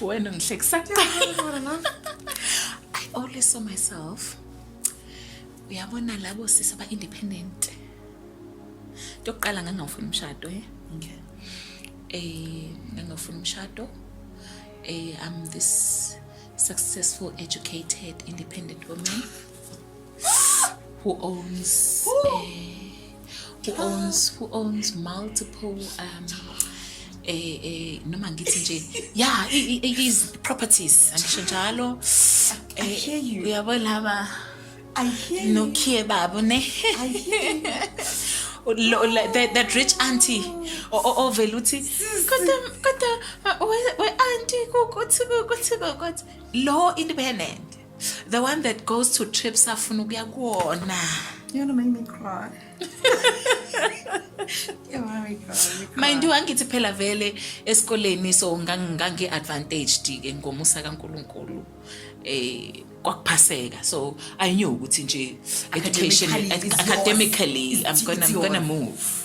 wena ungihlekisa i always saw myself uyabona labo sisi aba-independent into yokuqala ngangingawufuni umshado e okay. um ngangingawufuni umshado um i'm this successful educated independent woman who owns uh, who owns who owns multiple um eh eh noma ngithi nje yeah is properties angisho njalo eh uyabo laba I hear you. Nokie babu ne. I hear you. that, that rich auntie ovele uthi kodwa kodwa we auntie kuthi kuthi kuthi lo independent The one that goes to trips afuna ukuya kuwona. You wanna make me cry. mayindiwe angithi phela vele esikoleni so ngangi-advantaged ke ngomusa kankulunkulu eh kwakuphaseka so i knew ukuthi nje education academically i'm gonna, I'm gonna move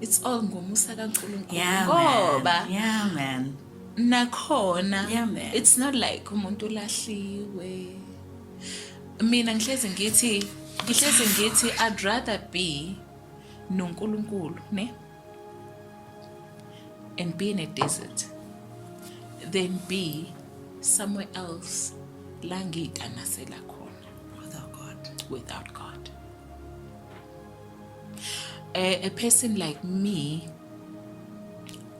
it's all ngomusa kaNkulunkulu yeah, ngoba yeah man nakhona yeah, man. it's not like umuntu ulahliwe mina ngihlezi ngithi ngihlezi ngithi i'd rather be noNkulunkulu ne and be in a desert than be somewhere else la ngiyitamasela khona without god without god a, a person like me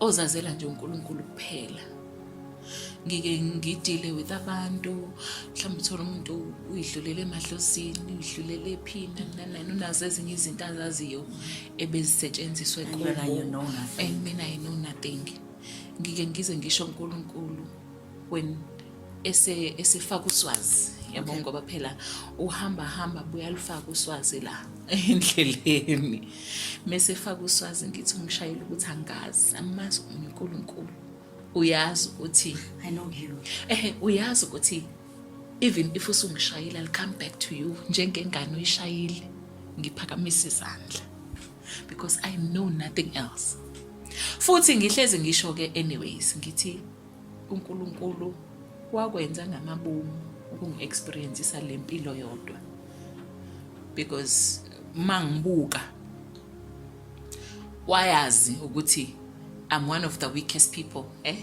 ozazela nje uNkulunkulu kuphela ngike ngidile with abantu mhlawumbe uthole umuntu uyidlulele emadlozini uyidlulele ephini nanani unazo ezinye izinto azaziyo ebezisetshenziswa ekhona and mina i know nothing ngike ngize ngisho uNkulunkulu when ese esefaka uswazi yabo okay. ngoba phela uhamba hamba buyalufaka uswazi la endleleni mese faka uswazi ngithi umshayeli ukuthi angazi amazi uNkulunkulu uyazi ukuthi i know you eh uyazi ukuthi even if usungishayela i'll come back to you njengengane uyishayile ngiphakamisa izandla because i know nothing else futhi ngihlezi ngisho ke anyways ngithi uNkulunkulu wakwenza ngamabomu ukungi-experiencisa le mpilo yodwa because uma ngibuka wayazi ukuthi I'm one of the weakest people eh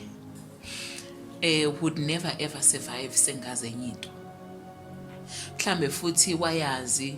eh would never ever survive sengaze enye into mhlambe futhi wayazi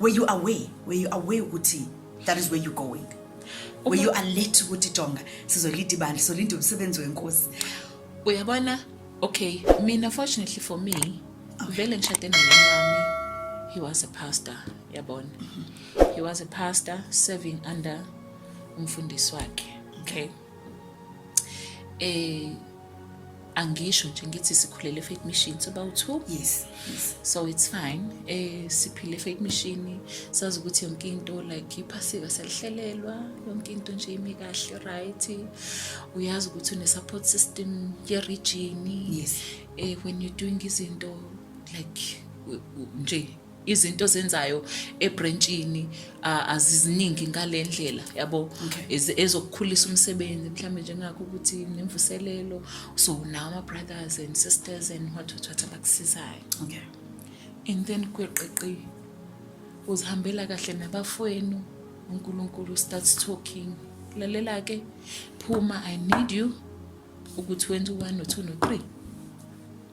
were you aware were you aware ukuthi that is where you going were you alert ukuthi jonga sizolida ibandla sizolinda umsebenzi wenkosi uyabona okay mina fortunately for me vele ngishade nomyeni wami he was a pastor yabona he was a pastor serving under umfundisi wakhe okay eh angisho nje ngithi sikhulele fake machine so about two yes, yes so it's fine eh siphile fake machine sazi ukuthi yonke into like iphasika selihlelelwa yonke into nje imi kahle right uyazi ukuthi une support system ye region yes eh when you doing izinto like nje izinto zenzayo ebrentshini aziziningi ngale ndlela yabo ezokukhulisa umsebenzi mhlawumbe njengakho ukuthi nemvuselelo so now ama brothers and sisters and what what what abakusizayo okay and then kweqiqi uzihambela kahle nabafwenu uNkulunkulu starts talking lalela ke phuma i need you ukuthi wenze u1 no2 no3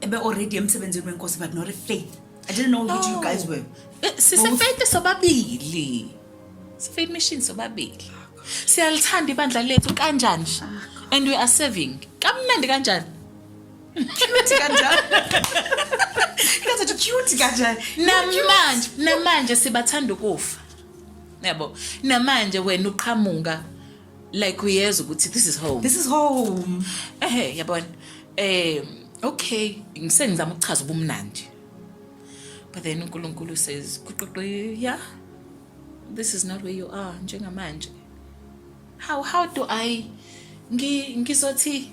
ebe already emsebenzini wenkosi but not faith i didn't know who you guys were eh, sisefaith sobabili sifaith mission sobabili siyalithanda ibandla lethu kanjani and we are serving kamnandi kanjani cute kanjani kaze cute kanjani namanje namanje sibathanda ukufa yabo namanje wena uqhamuka like uyezwa ukuthi this is home this is home ehe yabona eh okay ngisengizama ukuchaza ubumnandi but then uNkulunkulu says kuqoqo yeah this is not where you are njengamanje how how do i ngizothi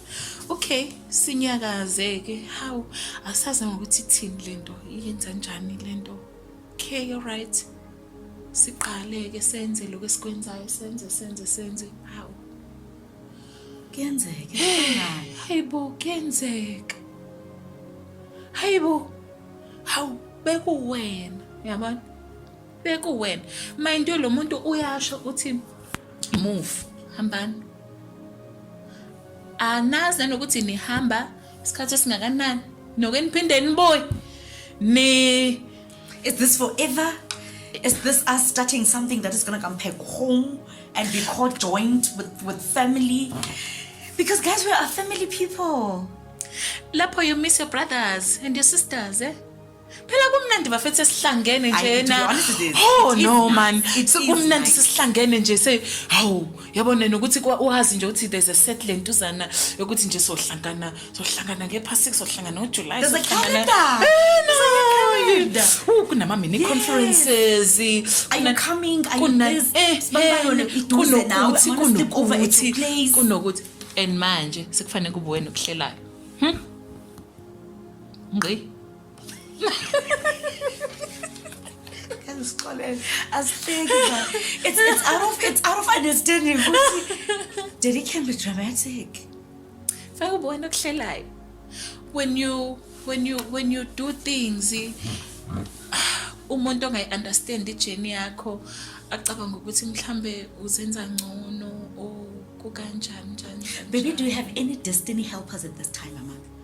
okay sinyakaze-ke hawu asazi ngokuthi ithini le nto iyenza njani le nto okay alright siqale-ke senze lokhu esikwenzayo senze senze senze hawu kuyenzeka hayi bo kuyenzeka hayi bo hawu bekuwena yabona bekuwena mind you lo muntu uyasho uthi move hambani anazi nanokuthi nihamba isikhathi esingakanani noke niphinde nibuye ni is this forever is this us starting something that is going to come back home and be called joint with, with family because guys we are family people lapho you miss your brothers and your sisters eh phela kumnandi bafethu sesihlangene Ayi, to be njena honest, it is. oh It is no nice. man It is sekumnandi nice. sesihlangene nje se hawu yabona nokuthi kwa- wazi nje ukuthi there's a set lentuzana yokuthi nje sohlangana sohlangana ngepha 6 sohlangana ngojuly There's a sohlangana- calendar. Eh, no. calendar. Uh, kunama-mini Yes. conferences Are you kuna- coming? Are you kuna- this? eh, Sibamba eh, yona iduze nawe. I kunokuthi wanna sleep over at your kunokuthi place. kunokuthi and manje sekufanele kube wena okuhlelayo ngqi esixolele asihleki it's, it's out of it's out of understanding ukuthi daddy can be dramatic fake ubona okuhlelayo when you when you when you do things umuntu ongayi understand ijeni yakho acabanga ukuthi mhlambe uzenza ngcono or kukanjani njani baby do you have any destiny helpers at this time mama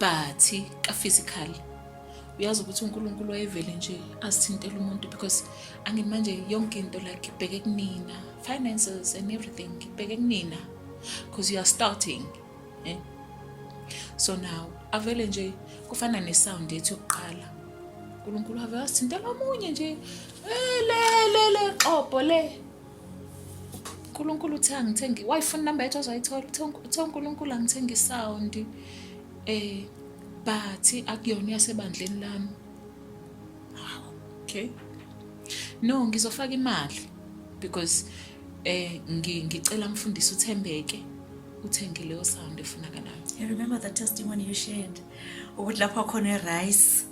but ka physical uyazi ukuthi uNkulunkulu wayevele nje asithintela umuntu because angithi manje yonke into like ibheke kunina finances and everything ibheke kunina because you are starting eh? so now avele nje kufana nesound ethi yokuqala uNkulunkulu ave asithintela omunye nje eh, le le le xobo le uNkulunkulu uthe angithengi wayifuna inamba yethu azoyithola uthe uNkulunkulu angithenga isawundi eh but akuyona yasebandleni lami okay no ngizofaka imali because eh ngicela mfundisi uthembeke uthenge leyo sound efunakalayo i remember the testimony you shared ukuthi lapho khona e rice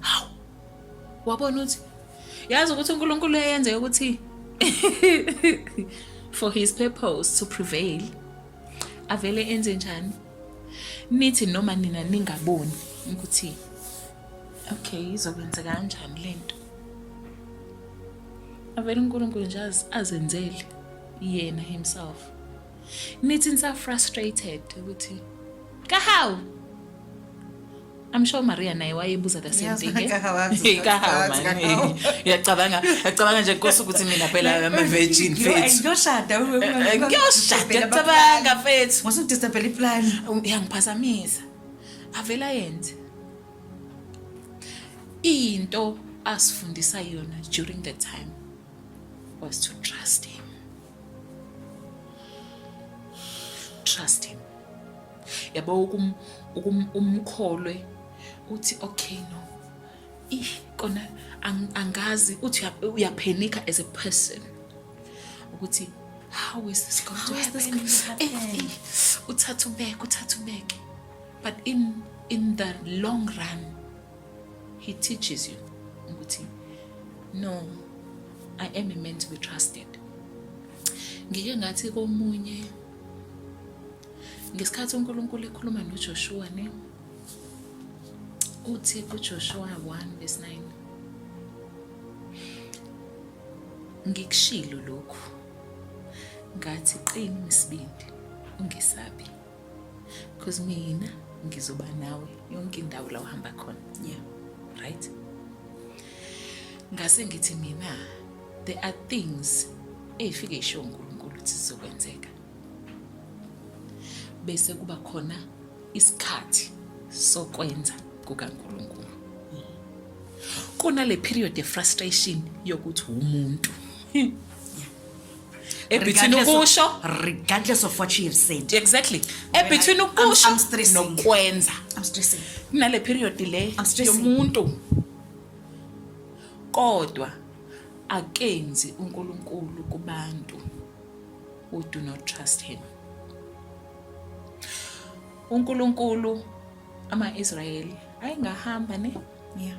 Hawu. Wabona uthi yazi ukuthi uNkulunkulu eyenze ukuthi for his purpose to prevail avele enze njani nithi noma nina ningaboni ukuthi okay izokwenzeka kanjani lento avele uNkulunkulu nje azenzele yena himself nithi nisa frustrated ukuthi kahawu I'm sure Maria naye wayebuza the same thing. Eh? Kahawu man. Uyacabanga, uyacabanga nje nkosi ukuthi mina phela ama virgin faith. Ngiyoshada wewe. Eh, eh, ngiyoshada ngicabanga faith. Ngose ngidisabela iplan. Uyangiphazamisa. Um, Avela yenze. Into asifundisa yona during the time was to trust him. trust him yabo ukum ukum umkholwe uthi okay no ih kona angazi uthi uyaphenika as a person ukuthi how is this going to happen eh, eh, uthatha ubeke uthatha ubeke but in in the long run he teaches you ukuthi no i am a man to be trusted ngike ngathi komunye ngesikhathi uNkulunkulu ekhuluma noJoshua ne uthi kuJoshua 1 verse 9 ngikushilo lokhu ngathi qini isibindi ungesabi because mina ngizoba nawe yonke indawo la uhamba khona yeah right ngase ngithi mina there are things ey'fike isho unkulunkulu ukuthi zizokwenzeka bese kuba khona isikhathi sokwenza kukankulunkulu kunale period ye-frustration yokuthi wumuntu ebetween ukusho regardless of what she have said exactly ebetween ukusho nokwenza i'm stressing kunale period le yomuntu kodwa akenzi uNkulunkulu kubantu who do not trust him uNkulunkulu ama-Israyeli ayengahamba ne yeah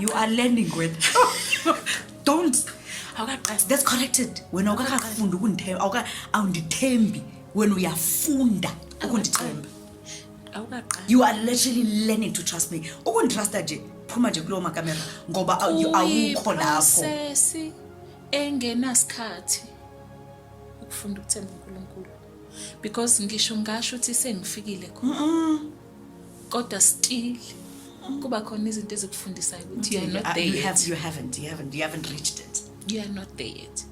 you are learning with don't awukaqasi that's corrected wena awukakafunda ukundithemba awuka awundithembi wena uyafunda ukundithemba awukaqasi you are literally learning to trust me ukunditrusta nje phuma nje kulowo makamera ngoba awu- you- awukho lapho Kuyiprocess engenasikhathi ukufunda ukuthemba uNkulunkulu because ngisho ngasho ukuthi sengifikile khona kodwa still kuba khona izinto ezikufundisayo ukuthi you are not there you, have, you haven't you haven't you haven't reached it you are not there yet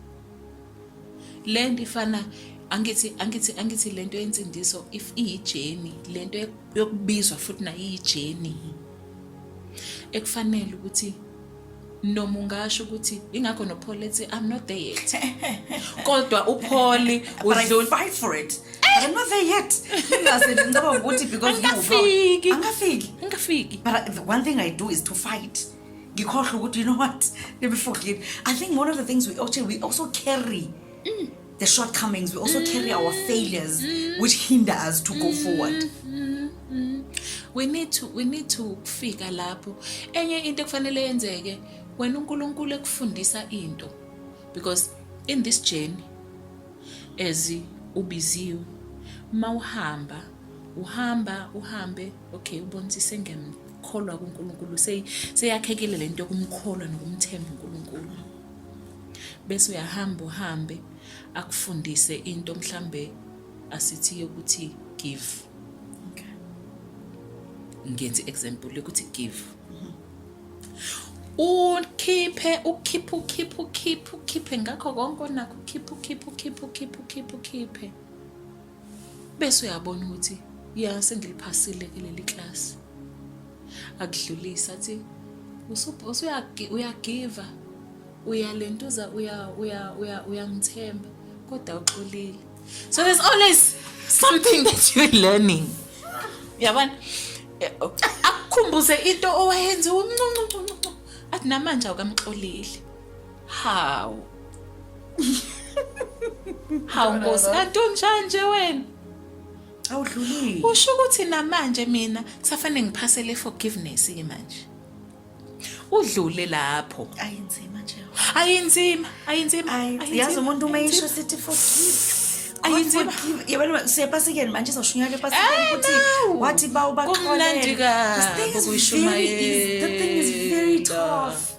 le nto ifana angithi angithi angithi lento yensindiso if iyijeni lento yokubizwa futhi nayo iyijeni ekufanele ukuthi noma ungasho ukuthi ingakho nopholi ethi i'm not there yet kodwa upholi udlula fight for it but i'm not there yet ngase ngicabanga ukuthi because angafiki angafiki angafiki but the one thing i do is to fight ngikhohle ukuthi you know what let me forget i think one of the things we also we also carry mm. the shortcomings, we also carry our failures, which hinder us to go forward. We need to, we need to fika lapho. Enye into kufanele yenzeke, wena uNkulunkulu ekufundisa into. Because in this journey, as ubiziwe, mawuhamba, uhamba, uhambe, okay, ubonisise ngemkholwa kuNkulunkulu. Seyakhekile lento yokumkholwa nokumthemba uNkulunkulu. bese uyahamba uhambe akufundise into mhlambe asithi yokuthi give okay ngenze example yokuthi give mhm. ukhiphe ukhiphe ukhiphe ukhiphe ukhiphe ngakho konke onakho ukhiphe ukhiphe ukhiphe ukhiphe ukhiphe ukhiphe bese uyabona ukuthi ya sengiliphasile ke leli class akudlulisa athi usuyagiva uyalentuza uyangithemba kodwa uxolile so there's always something that you're learning yabona eh, oh, akukhumbuze into owayenze umncuncuncu athi namanje awukamxoleli Hawu. Hawu Nkosi kanti unjani nje wena? Awudlulile. Usho ukuthi namanje mina kusafanele ngiphasele forgiveness ke manje. Udlule lapho. Ayinzima nje. Ayinzima, ayinzima. Yazi umuntu uma isho sithi forgive. ayinzima yabona siyepasikeni manje sashunyaka epasikeni ukuthi wathi bawubaxolele the thing is very easy the thing is very tough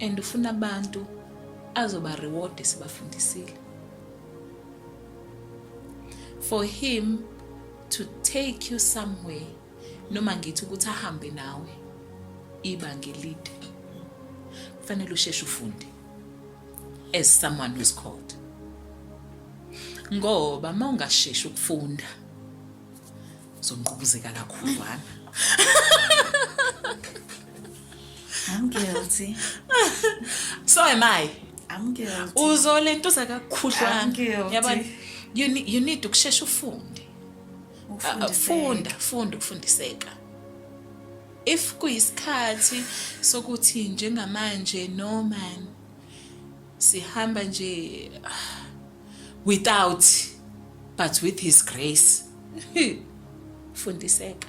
and ufuna abantu azoba reward sibafundisile for him to take you somewhere noma ngithi ukuthi ahambe nawe ibanga elide kufanele usheshe ufunde as someone who's called ngoba uma ungasheshi ukufunda Uzonqubuzeka kakhudlwana. I'm guilty. So am I. I'm guilty. Uzolentuza kakhudlwana. I'm guilty. Yabona you need, you need ukushesha ufunde. Uh, uh, funda, funda ukufundiseka. If kuyisikhathi sokuthi njengamanje no man sihamba nje without but with his grace fundiseka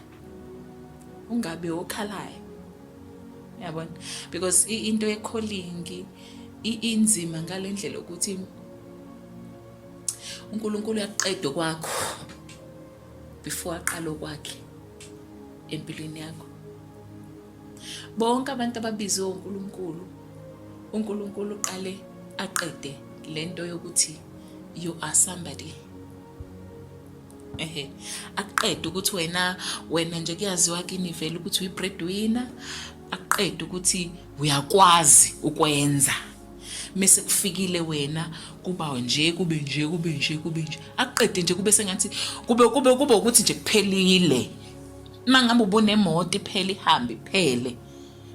ungabi okhalayo yabona because into yekholingi inzima ngalendlela ukuthi uNkulunkulu uyaqeda kwakho before aqala okwakhe empilweni yakho Bonke abantu ababizwe uNkulunkulu, uNkulunkulu uqale aqede lento yokuthi you are somebody. Ehe. Aqede ukuthi wena wena nje kuyaziwa kini vele ukuthi uyi breadwinner, aqede ukuthi uyakwazi ukwenza. mese kufikile wena kuba nje kube nje kube nje kube nje aqede nje kube sengathi kube kube kube ukuthi nje kuphelile uma ngabe ubunemoto iphele ihambe iphele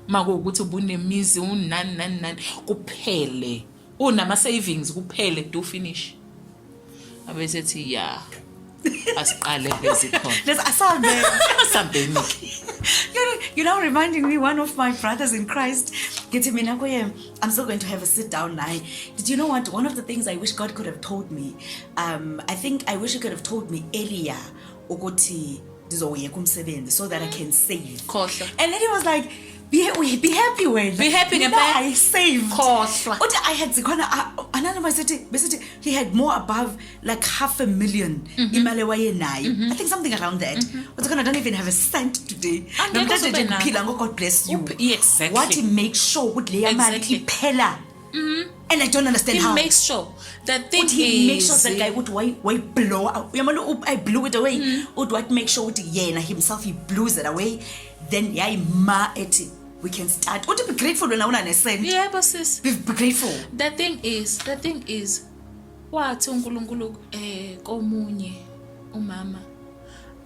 uma kuwukuthi ubunemizi unani nani nani kuphele unama-savings kuphele do finish abesethi ya asiqale bezikhonasambeni-ke you know reminding me one of my brothers in christ ngithi mina kuye i'm still going to have a sit down naye did you know what one of the things i wish god could have told me um, i think i wish he could have told me earlier ukuthi ndizowuyeka umsebenzi so that i can save khohlwa and then he was like be, we, be happy wena be happy ngempela i saved khohlwa uthi i had zikhona analo masithi besithi he had more above like half a million mm -hmm. imali wayenayo mm -hmm. i think something around that mm -hmm. uthi khona i don't even have a cent today namhlanje nje ngiphila ngo god bless you exactly. wathi make sure ukuthi leya mali exactly. iphela Mhm. and i don't understand He how makes sure the thing ukuthi he makes sure is that guy ukuthi why why blow out uyamona u- i blew it away Mm. uthi what make sure ukuthi yena himself he blows it away then yayima ethi we can start uthi be grateful wena una nesent yebo sis be, be grateful the thing is the thing is wathi uNkulunkulu eh komunye umama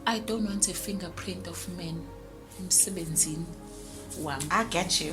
i don't want a fingerprint of men emsebenzini wami i get you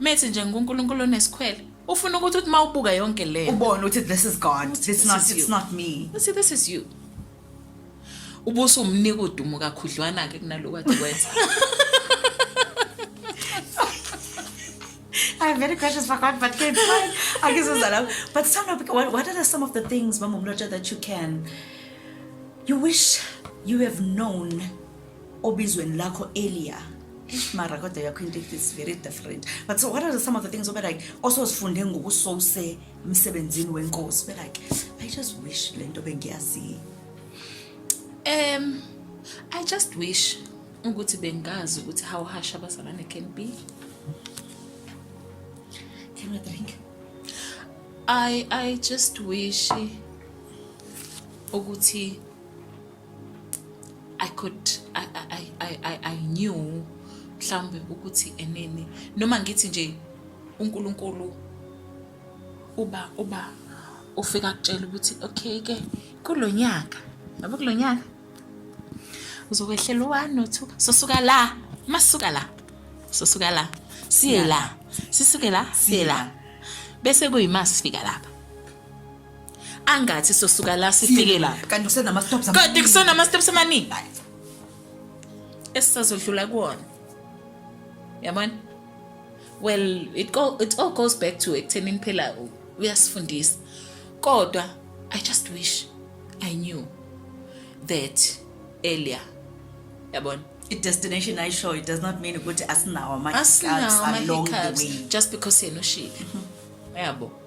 Methi nje nguNkulunkulu onesikhwele. Ufuna ukuthi uthi mawubuka yonke le. Ubone ukuthi this is God. It's not it's not me. See this is you. Ubuso umnika udumo kakhudlwana ke kunaloko athi wenza. I have many questions for God, but kids, I guess it's allowed. But some of what, what are some of the things, Mama Mloja, that you can, you wish you have known obizweni lakho earlier eish mara kodwa yakho into is very different but so what are some of the things obe like ososifunde ngokusose emsebenzini wenkosi be like i just wish le nto bengiyaziyo um i just wish ukuthi bengazi ukuthi how harsh abazalwane can be can i drink i i just wish ukuthi I could I I I I, I knew mhlawumbe ukuthi enene noma ngithi nje uNkulunkulu uba uba ufika kutshela ukuthi okay ke kulonyaka yabo kulonyaka uzokwehlela u-1 no-2 sosuka la masuka la sosuka la siye la sisuke la siye la bese kuyima sifika lapha angathi sosuka la sifike lapha kanti kusenama steps kanti kusenama steps amaningi esisazodlula kuwona yabona well it, go, it all goes back to ekuthenini phela uyasifundisa kodwa i just wish i knew that earlier yabona i-destination ayishow it does not mean ukuthi asinawo ama-hiccups along the way just because yena ushile yabo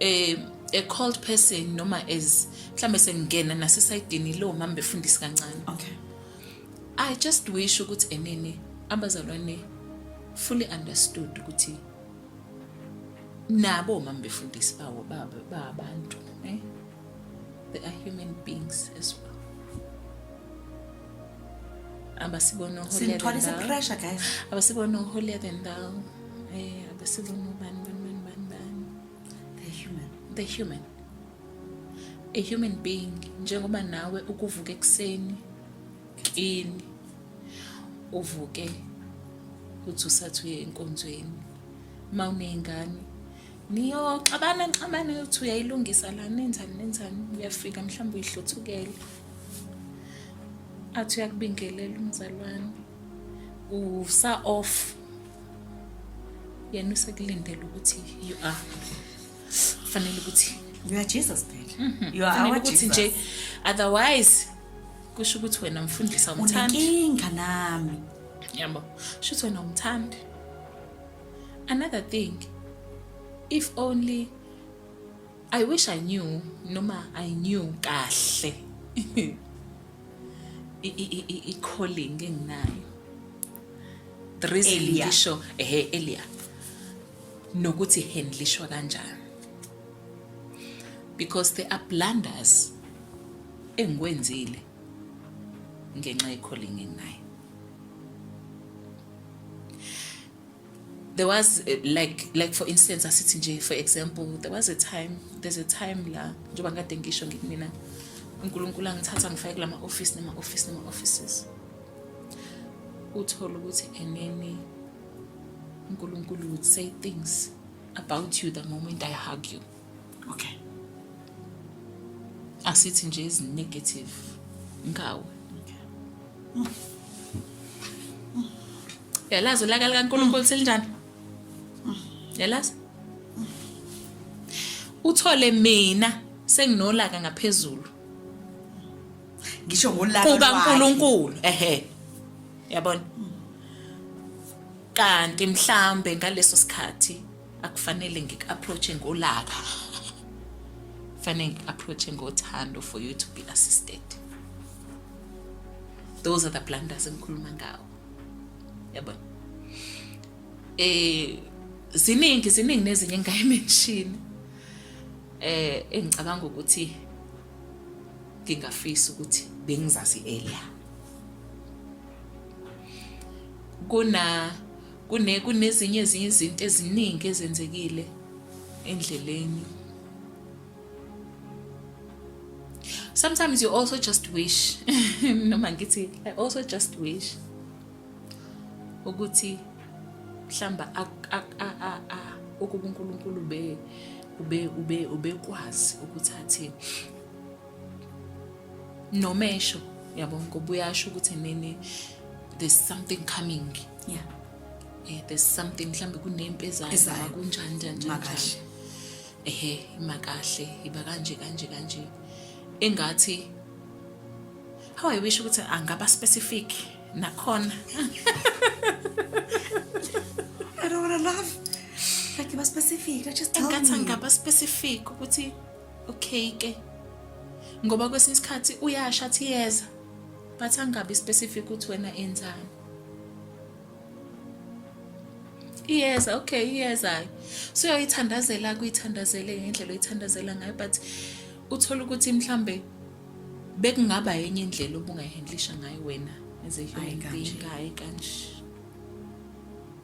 eh a cold person noma as mhlambe sengingena nasesayidini lo mama befundisi kancane okay i just wish ukuthi enene abazalwane fully understood ukuthi nabo mama befundisi bawo baba babantu eh they are human beings as well abasibona uholiyathwalise pressure guys abasibona uholiya than thou eh abasibona ubani bani bani bani bani the human the human a human being njengoba nawe ukuvuka ekuseni kini uvuke uthi usathi uye enkonzweni uma uney'ngane niyoxabana nixabane ukuthi uyayilungisa la nenzani nenzani uyafika mhlawumbe uyihluthukele athi uyakubingelela umzalwane usa off yena usekulindele ukuthi you are fanele ukuthi you are jesus phela mhm. you are our jesus nje otherwise kusho ukuthi wena mfundisa umthandi unenkinga nami yabo shuthi wena umthandi another thing if only i wish i knew noma i knew kahle i-calling enginayo the reason ngisho ehe elia nokuthi handlishwa kanjani because there are blunders engikwenzile ngenxa ye-calling enginayo there was eh, like like for instance asithi nje for example there was a time there's a time la njengoba ngikade ngisho ngithi mina unkulunkulu angithatha ngifake kula ma-ofisi nema-ofisi nema-offices uthole ukuthi enene unkulunkulu would say things about you the moment i hug you Okay. Asithi nje is negative ngawe. Okay. Yalazi ulaka likaNkulunkulu selinjani? Yalazi? Uthole mina senginolaka ngaphezulu. Ngisho ngolaka lwakhe. Kuka Nkulunkulu. Ehhe. Yabona? Kanti mhlambe ngaleso sikhathi akufanele ngiku-approach-e ngolaka fanele ngiku-approach-e ngothando for you to be assisted those are the blunders engikhuluma ngawo yabona eh ziningi ziningi nezinye engayimenshini eh engicabanga ukuthi ngingafisa ukuthi bengizazi earlier kuna Kune kunezinye ezinye izinto eziningi ezenzekile endleleni. Sometimes you also just wish noma ngithi I also just wish ukuthi mhlamba ukuba uNkulunkulu be ube ube ubekwazi ukuthi athini noma esho yabo ngoba uyasho ukuthi nini there's something coming yeah eh there's something mhlambe kunempi ezayo noma kunjani njani makahle ehe imakahle iba kanje kanje kanje engathi how i wish ukuthi angaba specific nakhona i don't want to laugh like iba specific i just tell me engathi angaba specific ukuthi Okay ke. Ngoba kwesinye isikhathi uyasha athi yeza but angabi specific ukuthi wena enzani. iyeza okay iyezayo so uyayithandazela kuyithandazele ngendlela oyithandazela ngayo but uthole ukuthi mhlambe bekungaba yenye indlela obungayihandlisha ngayo wena as a human being hayi kanje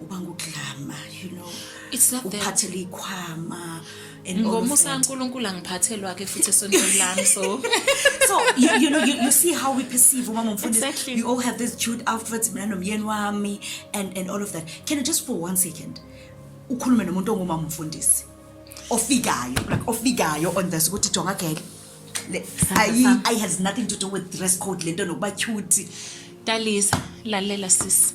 uba ngugqama you know it's not that uphathele ikhwama ngomusa kaNkuluNkulu angiphathelwa ke futhi esontweni lami so so you, you know you, you see how we perceive umama mfundisi exactly. you all have this cute outfits mina nomyeni wami and and all of that can you just for one second ukhulume nomuntu ongumama mfundisi ofikayo like ofikayo on this ukuthi jonga gele ayi ayi has nothing to do with dress code lento nokuba cute dalisa lalela sisi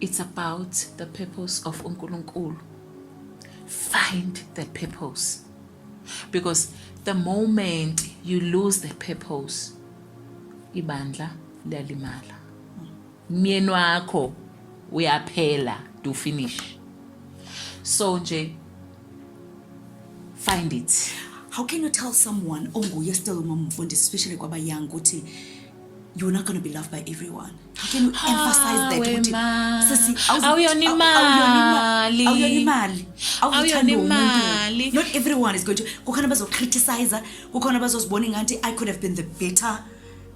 It's about the purpose of uNkulunkulu. Find the purpose. Because the moment you lose the purpose, ibandla liyalimala. Myeni wakho uyaphela to finish. So nje find it. How can you tell someone onguye still umamfundisi especially kwaba young ukuthi you're not going to be loved by everyone how can you ah, emphasize that ukuthi sisi awuyona imali awuyona imali awuyona imali not everyone is going to kukhona bazocriticize kukhona bazozibona ngathi i could have been the better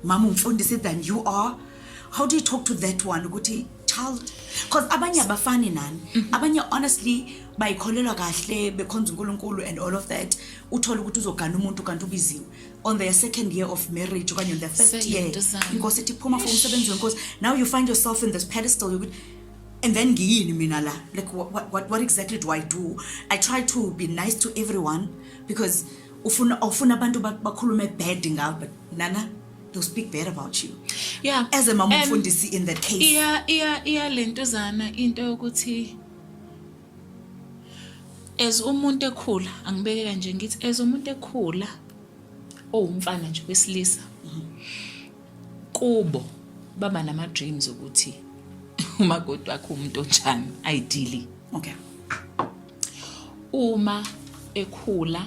mama umfundisi than you are how do you talk to that one ukuthi child because abanye abafani nani mm -hmm. abanye honestly bayikholelwa kahle bekhonza uNkulunkulu and all of that uthola ukuthi uzogana umuntu kanti ubiziwe on their second year of marriage okanye on their first Say year into zami. inkosi ithi phuma for umsebenzi wenkosi now you find yourself in this pedestal yokuthi and then ngiyini mina la like what, what, what, what exactly do i do i try to be nice to everyone because ufuna ufuna abantu ba- bakhulume bad ngawe but nana they'll speak bad about you yeah as a mama And umfundisi in that case iya iya iya lentuzana into yokuthi As umuntu ekhula angibeke kanje ngithi as umuntu ekhula owumfana nje wesilisa kubo baba nama dreams ukuthi umakoti wakho umuntu onjani ideally okay uma ekhula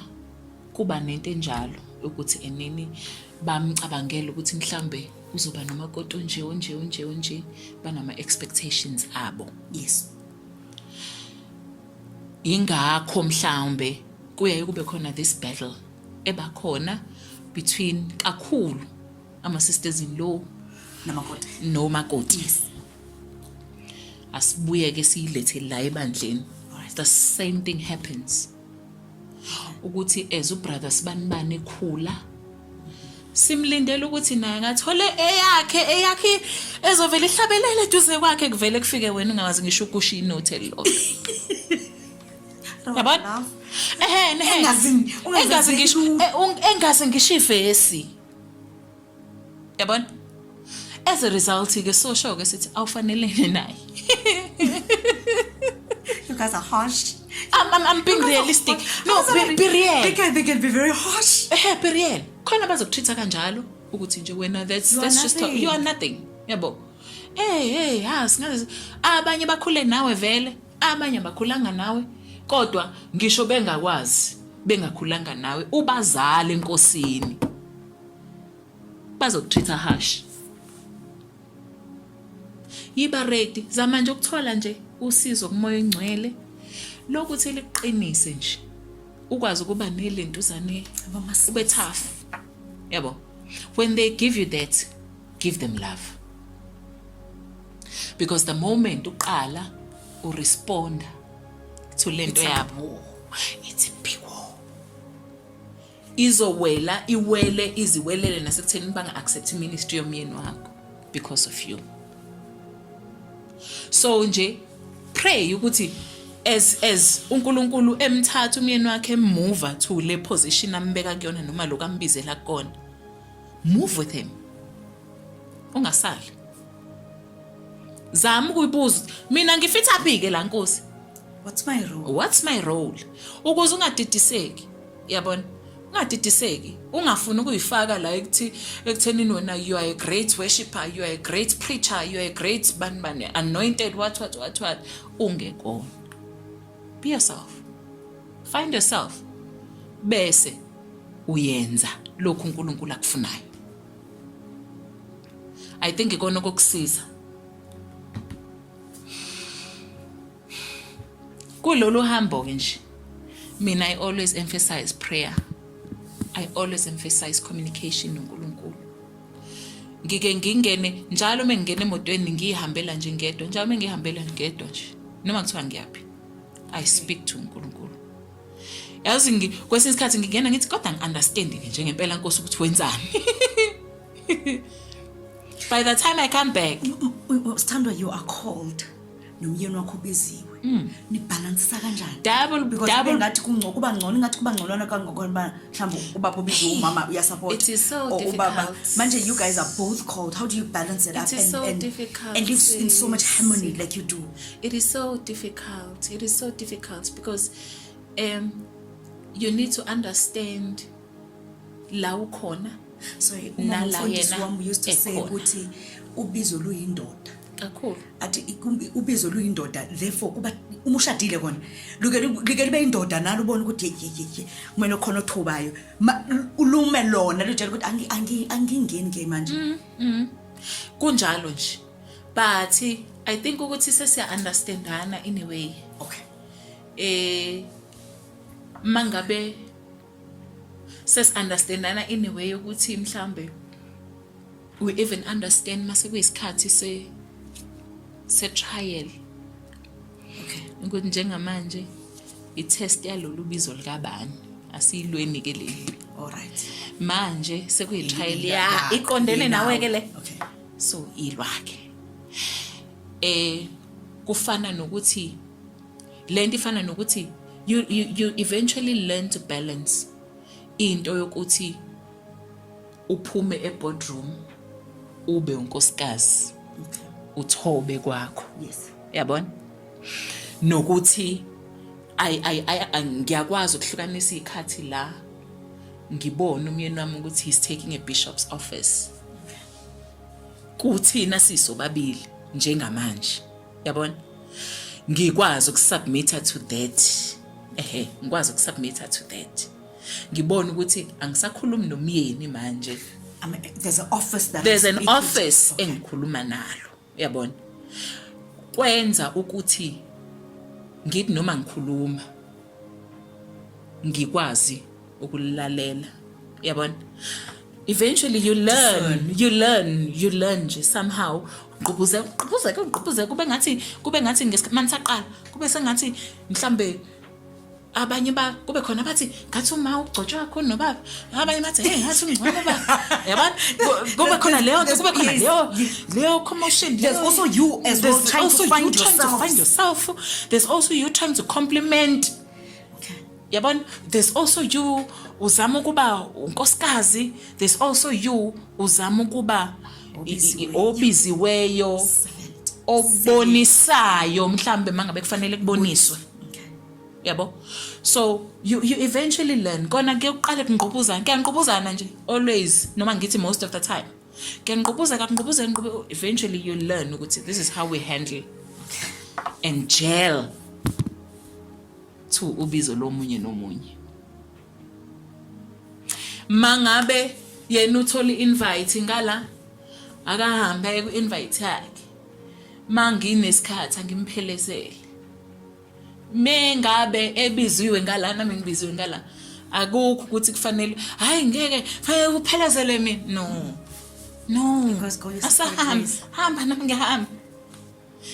kuba nento enjalo ukuthi enini bamcabangela ukuthi mhlambe uzoba nomakoti onje onje onje onje banama expectations abo yes yingakho mhlawumbe kuyaye kube khona this battle ebakhona between kakhulu ama-sisters in law nomakoti yes. asibuye-ke siyilethe la ebandleni the same thing happens ukuthi as ubrother sibanibani ekhula simlindele ukuthi naye ngathole eyakhe eyakhe ezovela ihlabelele eduze kwakhe kuvele kufike wena ungawazi ngisho ukusho inote lo yabona ehe engazi ngisho engazi ngisho ivesi yabona as a result ke sosho ke sithi awufanelene naye you guys are harsh I'm, I'm, I'm being realistic no be, be real they can, they can be very harsh eh be real khona bazokutreat kanjalo ukuthi nje wena that's you that's just you are nothing yabo hey hey ha singaze abanye bakhule nawe vele abanye abakhulanga nawe kodwa ngisho bengakwazi bengakhulanga nawe ubazali enkosini bazokutreat-a harsh yiba ready zama nje ukuthola nje usizo kumoya ongcwele lokuthi liqinise nje ukwazi ukuba nelentuzane ube tough yabo when they give you that give them love because the moment uqala uresponda to lento yabo it's a big war izowela iwele iziwelele nasekutheni banga accept ministry yomyeni wakho because of you so nje pray ukuthi as as uNkulunkulu emthatha umyeni wakhe emuva to le position ambeka kuyona noma lokho ambizela kona move with him ungasali zama ukuyibuza mina ngifitha phi ke la nkosi what's my role what's my role ukuze ungadidiseki yabona ungadidiseki ungafuni ukuyifaka la ekuthi ekuthenini wena you are a great worshipper you are a great preacher you are a great bani bani anointed what what what what ungekona be yourself find yourself bese uyenza lokhu uNkulunkulu akufunayo i think ikona kokusiza kulolu hambo ke nje mina i always emphasize prayer i always emphasize communication noNkulunkulu ngike ngingene njalo uma ngingena emotweni ngiyihambela nje ngedwa njalo uma ngihambela ngedwa nje noma kuthiwa ngiyaphi i speak to uNkulunkulu yazi kwesinye isikhathi ngingena ngithi kodwa ngi-understand ke nje ngempela nkosi ukuthi wenzani by the time i come back sithandwa you are cold nomyeni wakho ubiziwe mm. nibhalansisa kanjani double because double ngathi kungcono kuba ngcono ingathi kuba ngcono kangokho ba mhlawumbe ubaba ubiziwe umama uya support it is so difficult ubaba manje you guys are both cold how do you balance it, it up and so and, difficult and live in so much harmony like you do it is so difficult it is so difficult because um you need to understand la ukhona so nala yena wami used to say ukuthi ubizo luyindoda kakhulu athi ubizo luyindoda therefore kuba uma ushadile kona luke luke libe indoda nalo ubona ukuthi yeyeye kumele khona othubayo ulume lona lutshela ukuthi angi angi angingeni ke manje mm, mm. kunjalo nje but i think ukuthi sesiya understandana in a way okay eh mangabe ses understandana in a way ukuthi mhlambe we even understand mase kuyisikhathi se se trial okay ukuthi njengamanje i test yalolu bizo likabani asiyilweni ke leli all right manje sekuyi trial ya iqondene nawe ke le okay so ilwakhe eh kufana nokuthi le nto ifana nokuthi you, you, you eventually learn to balance into yokuthi uphume eboardroom ube unkosikazi uthobe kwakho yes yabona nokuthi ay ay ay ngiyakwazi ukuhlukanisa ikhathi la ngibone umyeni wami ukuthi he's taking a bishop's office kuthina sisobabili njengamanje yabona ngikwazi ukusubmita to that ehe ngikwazi ukusubmita to that ngibona ukuthi angisakhulumi nomyeni manje I mean, there's an office that there's an office okay. engikhuluma nalo uyabona kwenza ukuthi ngithi noma ngikhuluma ngikwazi ukulalela yabona eventually you learn you learn you learn nje somehow ugqubuze ugqubuze ugqubuze kube ngathi kube ngathi ngesikhathi saqala kube sengathi mhlambe abanye ba kube khona bathi ngathi uma ugcotshwa kakhulu nobaba abanye bathi hey ngathi ungcono ba yabona kube khona leyo nto kube khona leyo leyo commotion there's also you as well trying to find yourself there's also you trying to compliment yabona there's also you uzama ukuba unkosikazi there's also you uzama ukuba obiziweyo obonisayo mhlambe mangabe kufanele kuboniswe yabo so you, you eventually learn kona ke uqale kungqubuzana kuyangqubuzana nje always noma ngithi most of the time kuyangqubuza kangqubuza ngqube eventually you learn ukuthi this is how we handle and jail to ubizo lomunye nomunye mangabe yena uthola i-invite ngala akahambe aye ku-invite yakhe manginesikhathi angimphelezele mengabe ebiziwe ngala nami ngibiziwe ngala akukho ukuthi kufanele hayi ngeke fanele kuphelezele mina no no asahambe hamba nami ngihamba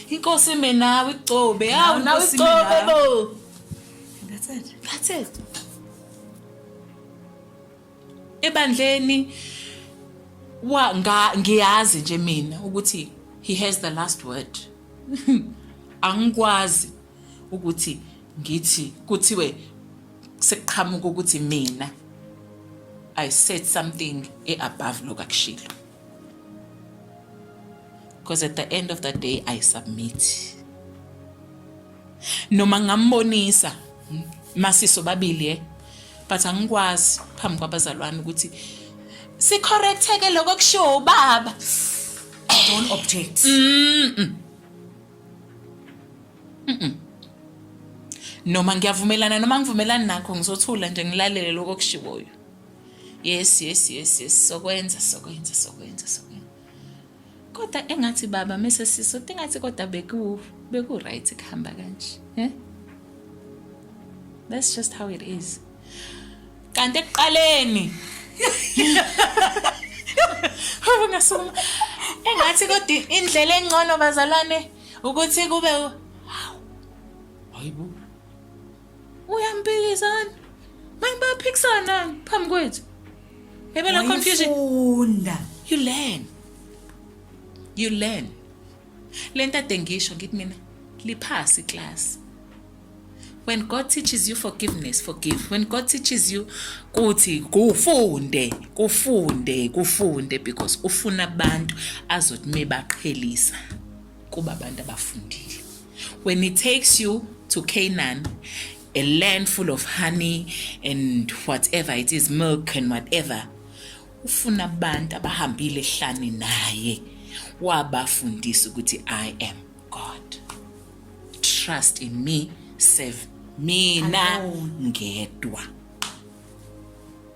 Inkosi ime nawe igcobe. Hawu nawe igcobe bo. That's it. That's it. Ebandleni wa nga ngiyazi nje mina ukuthi he has the last word. Angikwazi ukuthi ngithi kuthiwe sekuqhamuka ukuthi mina I said something e above lokakushilo. because at the end of the day i submit noma ngambonisa masiso babili eh but angikwazi phambi kwabazalwane ukuthi sicorrecteke lokho kushiwo ubaba don't object mm -mm. Mm -mm. noma ngiyavumelana noma ngivumelani nakho ngizothula nje ngilalele lokho kushiwoyo yes yes yes yes sokwenza sokwenza sokwenza sokwenza kodwa engathi baba mese siso tingathi kodwa beku beku right kuhamba kanje eh that's just how it is kanti ekuqaleni Haba ngasoma. Engathi kodwa indlela engcono bazalwane ukuthi kube hayibo. uyampikisana manje bayaphikisana phambi kwethu yebe la confusion funda you learn you learn lento ade ngisho ngithi mina liphasi class when god teaches you forgiveness forgive when god teaches you kuthi kufunde kufunde kufunde because ufuna abantu azothi mebaqhelisa kuba abantu abafundile when it takes you to Canaan a land full of honey and whatever it is milk and whatever ufuna abantu abahambile ehlane naye wabafundisa ukuthi i am god trust in me serve mina ngedwa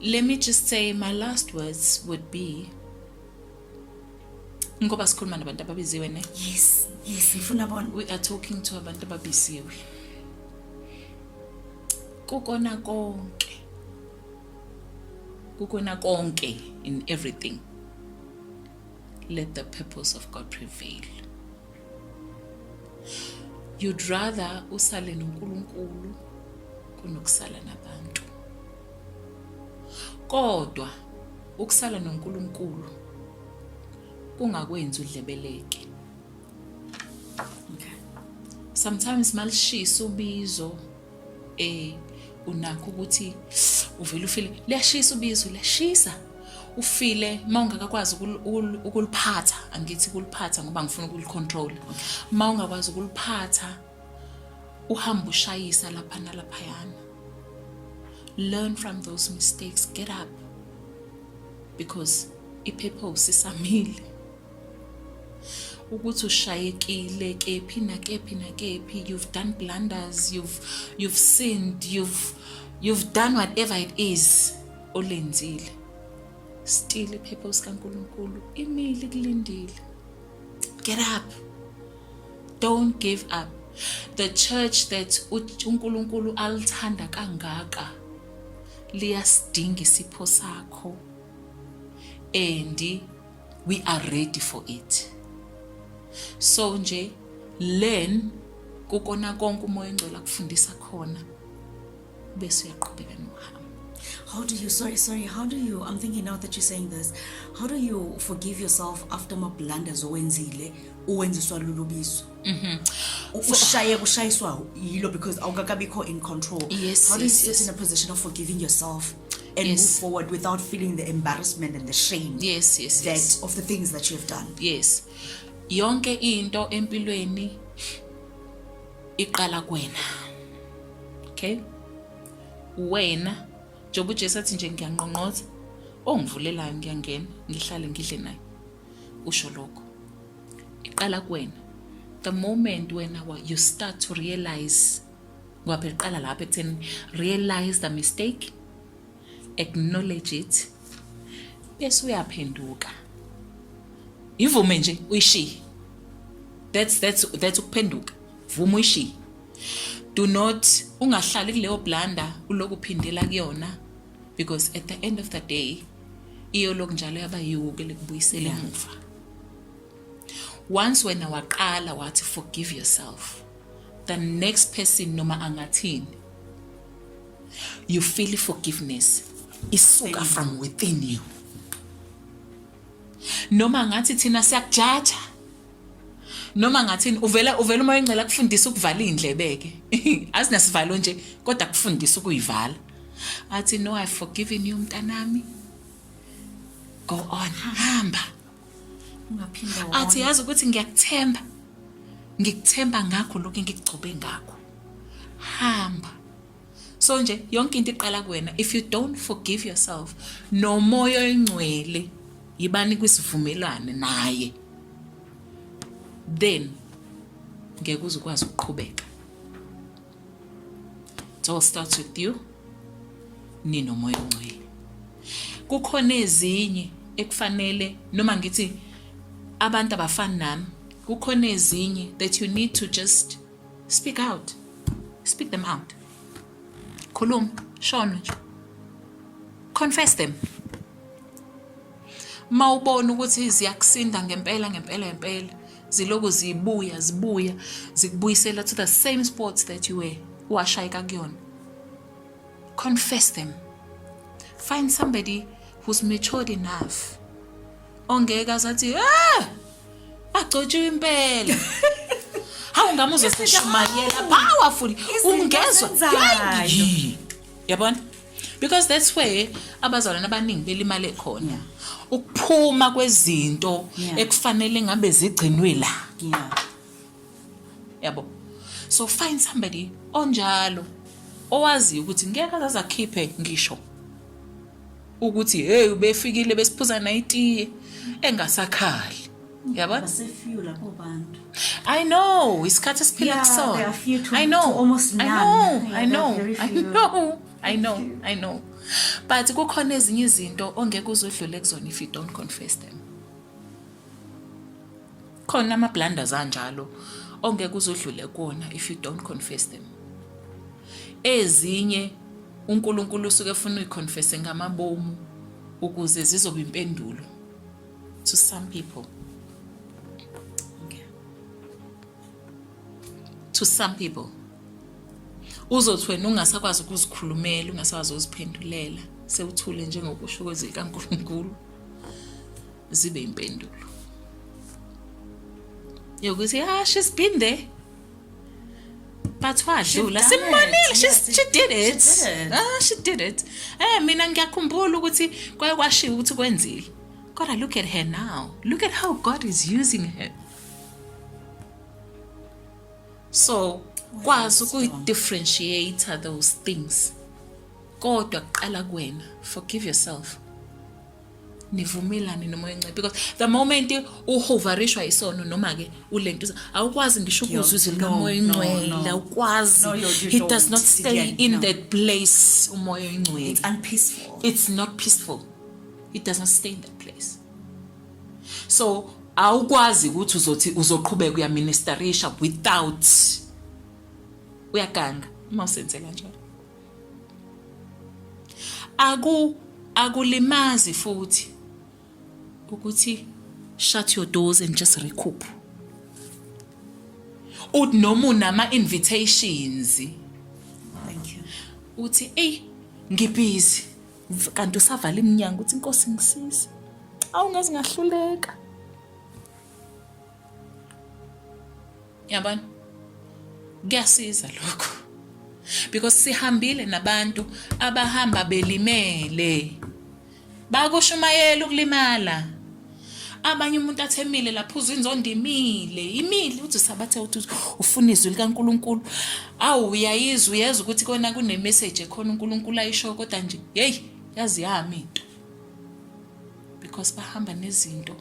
let me just say my last words would be ngoba sikhuluma nabantu ababiziwe ne yes yes ngifuna bona we are talking to abantu ababiziwe kukona konke kukona konke in everything let the purpose of god prevail you'd rather usale noNkulunkulu kunokusala nabantu kodwa ukusala noNkulunkulu kungakwenzi udlebeleke okay. sometimes malishisa ubizo eh unakho ukuthi uvele ufile liyashisa ubizo liyashisa ufile uma ungakakwazi ukuliphatha angithi kuliphatha ngoba ngifuna ukulicontrol uma ungakwazi ukuliphatha uhamba ushayisa lapha nalaphayana learn from those mistakes get up because i-purpose isamile ukuthi ushayekile kephi nakephi nakephi you've done blunders you've, you've sinned you've, you've done whatever it is olenzile still iphepha sikaNkulunkulu imile kulindile get up don't give up the church that uNkulunkulu alithanda kangaka liyasidinga isipho sakho and we are ready for it so nje learn kukona konke umoya engcwele akufundisa khona bese uyaqhubeka nohambo How do you sorry sorry how do you I'm thinking now that you're saying this how do you forgive yourself after ma blunders owenzile uwenziswa lulubizo mhm ushaye kushayiswa yilo because awukakabikho in control yes, how do you yes, sit yes. in a position of forgiving yourself and yes. move forward without feeling the embarrassment and the shame yes, yes, that yes. of the things that you have done yes yonke into empilweni iqala kwena okay wena njengoba ujesu athi nje ngiyanqonqoza ongivulelayo ngiyangena ngihlale ngidle naye usho lokho iqala kwena the moment wena you start to realize ngoba phela iqala lapho ekutheni realize the mistake acknowledge it bese uyaphenduka ivume nje uyishiye that's that's that's ukuphenduka vuma uyishiye do not ungahlali kuleyo blanda uloku phindela kuyona because at the end of the day iyoloku njalo yaba yiwuke lekubuyisela emuva once wena waqala wathi forgive yourself the next person noma angathini you feel forgiveness isuka from within you noma ngathi thina siyakujaja noma ngathini uvela uvela uma ingcela kufundisa ukuvala indlebeke asinasivalo nje kodwa kufundisa ukuyivala athi no i forgiven you mntanami go on hamba athi yazi ukuthi ngiyakuthemba ngikuthemba ngakho lokhu ngikugcobe ngakho hamba so nje yonke into iqala kuwena if you don't forgive yourself nomoya oyingcwele yibani kwisivumelwane naye then ngeke uzukwazi ukuqhubeka It all starts with you ninomoya ongcwele. Kukhona ezinye ekufanele noma ngithi abantu abafani nami kukhona ezinye that you need to just speak out speak them out khuluma shona nje confess them mawubona ukuthi ziyakusinda ngempela ngempela ngempela ziloku zibuya zibuya zikubuyisela to the same sports that you were washayeka kuyona confess them find somebody who's matured enough ongeke azathi ah agcotshiwe impela hawu ngami uzosishumayela powerful ungezwa yabona because that's where abazalwane abaningi belimale khona yeah. ukuphuma kwezinto yeah. ekufanele ngabe zigcinwe la yeah. yabo so find somebody onjalo owaziyo ukuthi ngeke azaze akhiphe ngisho ukuthi hey ubefikile besiphuza nayitiye engasakhali yabona basefew lapho bantu i know isikhathi esiphila Yeah, kusona they are few to- i know to almost i none. know Yeah, i they are know very i few. know i know i know but kukhona ezinye izinto ongeke uzudlule kuzona if you don't confess them khona ama-blunders anjalo ongeke uzudlule kuwona if you don't confess them ezinye unkulunkulu usuke efuna uyiconfese ngamabomu ukuze zizoba impendulo to some people to some people uzothi wena ungasakwazi ukuzikhulumela ungasakwazi ukuziphendulela sewuthule njengokusho kwezwi likaNkulunkulu zibe impendulo yokuthi ah she's been there but wadlula simmonile she, yes, she did it she did it, ah, she did it. Eh, mina ngiyakhumbula ukuthi kwaye kwashiwo ukuthi kwenzile kodwa look at her now look at how god is using her so kwazi ukuyi-differentiate those things kodwa kuqala kuwena forgive yourself nivumelane noma uyinciphe because the moment uhoverishwa isono noma ke ulento awukwazi ngisho ukuzwa izwi likamoya oyingcwele awukwazi he does not stay in that place umoya oyingcwele it's unpeaceful it's not peaceful he does not stay in that place so awukwazi ukuthi uzothi uzoqhubeka uyaministerisha without uyaganga uma usenze kanjalo aku akulimazi futhi ukuthi shut your doors and just recoup uthi noma unama invitations thank you uthi ey ngibhizi kanti usavala iminyango uthi inkosi ngisize awungazi ngahluleka yabona kuyasiza lokho because sihambile nabantu abahamba belimele bakushumayela ukulimala abanye umuntu athemile laphuza inzondo imile imile uthi sabathe uthi ufuna izwi likaNkuluNkulu awu uyayizwa uyeza ukuthi kona kune message ekhona uNkuluNkulu ayisho kodwa nje hey yazi yami into because bahamba nezinto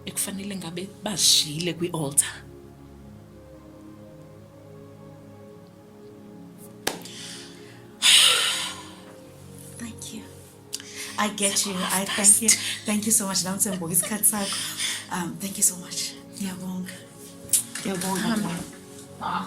ekufanele ngabe bazishiyile kwi-altar I get you. I thank you. Thank you so much. Nansi ngibuka isikhathi sakho. Um, thank you so much. Ngiyabonga. Ngiyabonga. Ah.